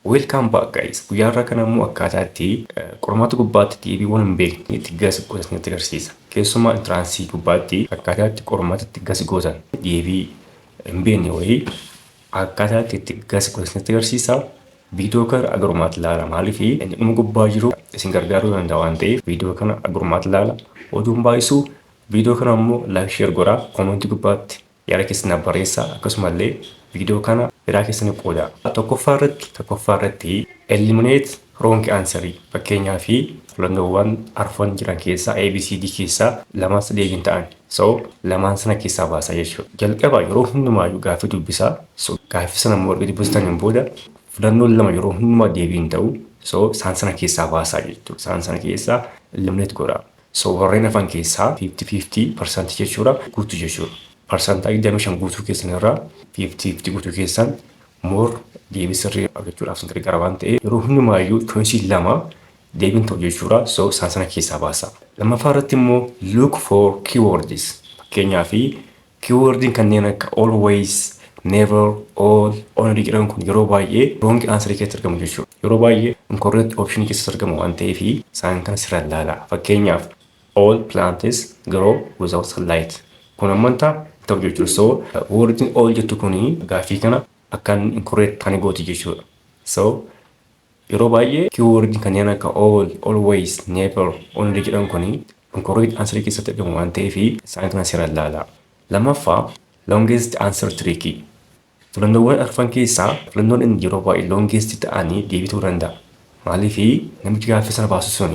Welcome back guys. Guyyaa irraa kana immoo akkaataa itti qormaata gubbaatti deebiiwwan hin beekne itti gasi gootan isinitti agarsiisa. Keessumaa intiraansii gubbaatti akkaataa itti qormaata itti gasi gootan deebii hin beekne wayii akkaataa itti itti gasi gootan isinitti agarsiisa. Viidiyoo kana agarummaatti ilaala maaliif inni dhuma gubbaa jiru isin gargaaruu danda'a waan ta'eef viidiyoo kana agarummaatti ilaala. Oduun baay'isuu viidiyoo kana immoo laayik sheer godhaa koomentii gubbaatti Yaada keessan naaf barreessaa akkasumallee viidiyoo kana hiraa keessaniif qoodaa. Tokkoffaa irratti tokkoffaa irratti eliminate wrong answer fakkeenyaaf filannoowwan arfan jiran keessaa ABCD keessaa lamaan sadii hin ta'an so lamaan sana keessaa baasaa jechuudha. Jalqaba yeroo hundumaayyuu gaaffii dubbisaa so gaaffii sana immoo erga dubbistaniin booda filannoon lama yeroo hundumaa deebii hin ta'u so isaan sana keessaa baasaa jechuudha. Isaan sana keessaa eliminate godhaa. So warreen hafan keessaa 50, 50 parsantii jechuudha guutu jechuudha. Parsantaa 25 guutuu keessan irraa 50, 50 guutuu keessan more deebii sirrii argachuudhaaf isin gargaara waan ta'eef yeroo hundumaayyuu choice lama deebiin ta'u jechuudha. So isaan sana keessaa baasaa. Lammaffaa irratti immoo look for keywords fakkeenyaaf Keyword'n kanneen akka always, never, all, only jedhan kun yeroo baay'ee wrong answer keessatti argamu jechuudha. Yeroo baay'ee incorrect option keessatti argamu waan ta'eef isaan kana sirra ilaalaa. Fakkeenyaaf all plants grow without sunlight. Kun amman ta'a hin ta'u jechuudha. So word'n all jettu kun gaaffii kana akka inni incorrect kan gooti jechuudha. So Yeroo baay'ee kiiwoordiin kanneen akka all, always, never, only jedhan kun inkorriikti ansarii keessatti argamu waan ta'eef isaanii kana seeraan ilaalaa. Lammaffaa, longest answer trick. Filannoowwan arfan keessaa filannoon inni yeroo baay'ee longest ta'an deebii ta'uu danda'a. Maaliif namichi gaaffii sana baasu sun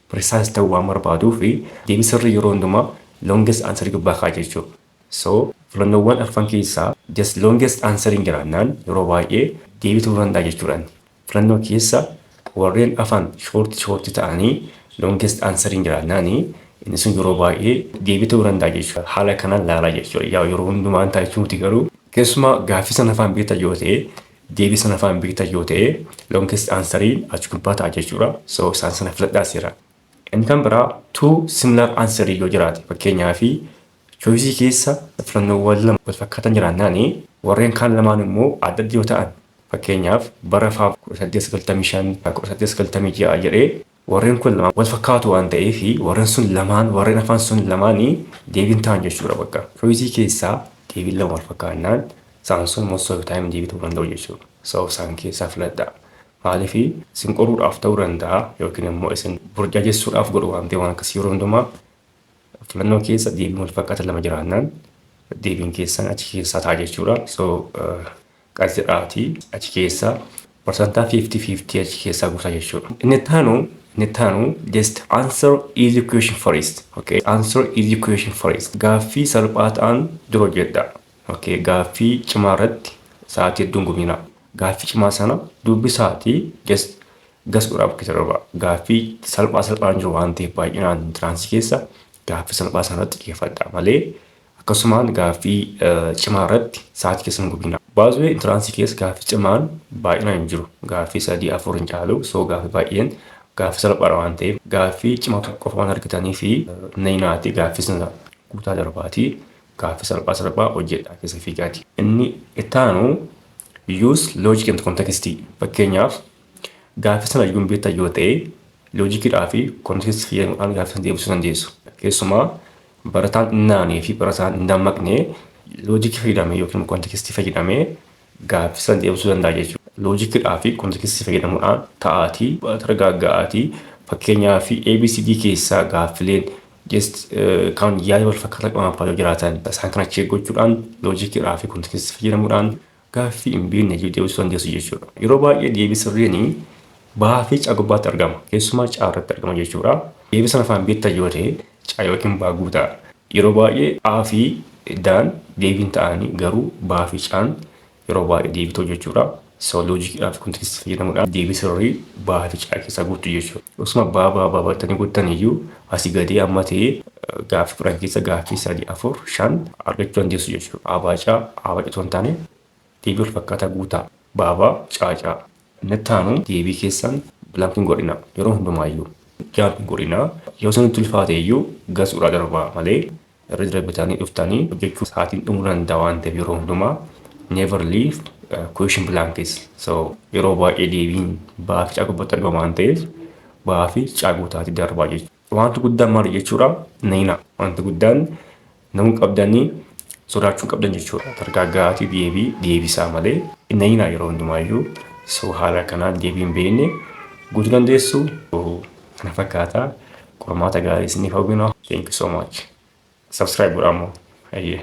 precise ta'uu waan barbaaduuf deebii sirrii yeroo hundumaa longest answer gubbaa kaa'a jechuudha. So, filannoowwan arfan keessaa just longest answeriin jiraannaan yeroo baay'ee deebii ta'uu danda'a jechuudha inni. Filannoo keessa warreen afan short short ta'anii longest answeriin jiraannaan inni sun yeroo baay'ee deebii ta'uu danda'a jechuudha. Haala kanaan laalaa jechuudha. Yaa yeroo hundumaa hin ta'a jechuu miti garuu keessumaa gaaffii sana afaan beekta yoo ta'e deebii sana afaan beekta yoo ta'e longest answeriin achi gubbaa ta'a jechuudha. So, isaan sana filadhaa seera. Inni kan biraa two similar answerii yoo jiraate fakkeenyaaf Choice keessa filannoowwan lama walfakkaatan jiraannaan, warreen kaan lamaan immoo adda adda yoo ta'an, fakkeenyaaf, bara Fab 1895, Fab 1896 jedhee warreen kun lamaan walfakkaatu waan ta'eef, warreen sun lamaan, warreen hafan sun lamaan deebii hin ta'an jechuu dha bakka. Choice keessa deebiin lama walfakkaannaan, isaan sun most of the time deebii ta'uu danda'u jechuu dha. So isaan keessaa filadhaa. Maaliif? Isin qoruudhaaf ta'uu danda'a yookiin immoo isin burjaajessuudhaaf godhu waan ta'eef waan akkasii yeroo hundumaa Filannoo keessa deebiin wal fakkaata lama jiraannaan deebiin keessan achi keessaa ta'a jechuudha. So qas jedhaati achi keessaa parsantaa 50-50 achi keessaa guutaa jechuudha. Inni taanu inni taanu just answer easy question first. Okay. Answer easy question first. Gaaffii salphaa ta'an dura hojjedha. Okay. Gaaffii cimaa irratti sa'aatii hedduun guminaa. Gaaffii cimaa sana dubbisaatii just Gas dhuraa bakka jalqabaa gaaffii salphaa salphaan jiru waan ta'eef baay'inaan intiraansii keessa gaaffii salphaa sana irratti xiyyeeffadhaa malee akkasumaan gaaffii cimaa irratti sa'aatii keessa hin gubinaa. Baazwee intiraansii keessa gaaffii cimaan baay'inaan hin jiru. Gaaffii sadii afur hin caalu soo gaaffii baay'een gaaffii salphaadha waan ta'eef gaaffii cimaa tokko qofa waan argitanii fi nayinaati gaaffii sana guutaa darbaatii gaaffii salphaa salphaa hojjedhaa keessa fiigaati. Inni ittaanu use logic and context fakkeenyaaf Gaaffii sana arguun beektan yoo ta'e, loojikiidhaa fi kontekstii fayyadamuudhaan gaaffii sana deebisuu dandeessu. Keessumaa barataan hin naanee fi barataan hin dammaqne loojikii fayyadamee yookiin kontekstii fayyadamee gaaffii sana deebisuu danda'a jechuudha. Loojikiidhaa fi kontekstii fayyadamuudhaan ta'aatii baratara gaagga'aatii fakkeenyaa fi ABCD keessaa gaaffileen just kan yaada wal fakkaataa qaban fa'aa yoo jiraatan isaan kana check gochuudhaan loojikiidhaa fi kontekstii fayyadamuudhaan gaaffii hin beekne deebisuu dandeessu jechuudha. Yeroo baay'ee deebii sirriin ba'aa fi caa gubbaatti argama. Keessumaa caa irratti argama jechuudha. Deebii sana afaan beektan yoo ta'e caa yookiin baa guutaa. Yeroo baay'ee A fi daan deebiin ta'anii garuu baa fi caan yeroo baay'ee deebitoo jechuudha. So loojikiidhaa fi kontekstii fayyadamuudhaan deebii sirrii baa fi caa keessaa guuttu jechuudha. Osuma baa baa baa battanii guuttan iyyuu Asi gadii amma ta'e gaaffii kudhan keessa gaaffii sadi afur shan argachuu dandeessu jechuudha. Aabaa caa aabaa citoo hin taane deebii wal fakkaataa guutaa baabaa caacaa. Inni itti aanu deebii keessan bilaank hin godhina yeroo hundumaayyuu. Gaaf hin godhina yoo isinitti ulfaate iyyuu gasuudhaa darbaa malee Irra deebitanii dhuftanii hojjechuu sa'aatiin dhumuu danda'a waan ta'eef yeroo hundumaa never leave question blankets. So yeroo baay'ee deebiin ba'aa fi caaguu irratti argama waan ta'eef ba'aa fi caaguu taati darbaa jechuudha. Wanti guddaan maali jechuudha? Nayina. Wanti guddaan namuu qabdanii sodaachuu qabdan jechuudha. Targaa ga'aatii deebii deebisaa malee nayina yeroo hundumaayyuu so haala kanaan deebiin beekne guutuu dandeessu. na fakkaata qormaata gaarii isiniif hawwina thank you so much subscribe godhaa immoo hayyee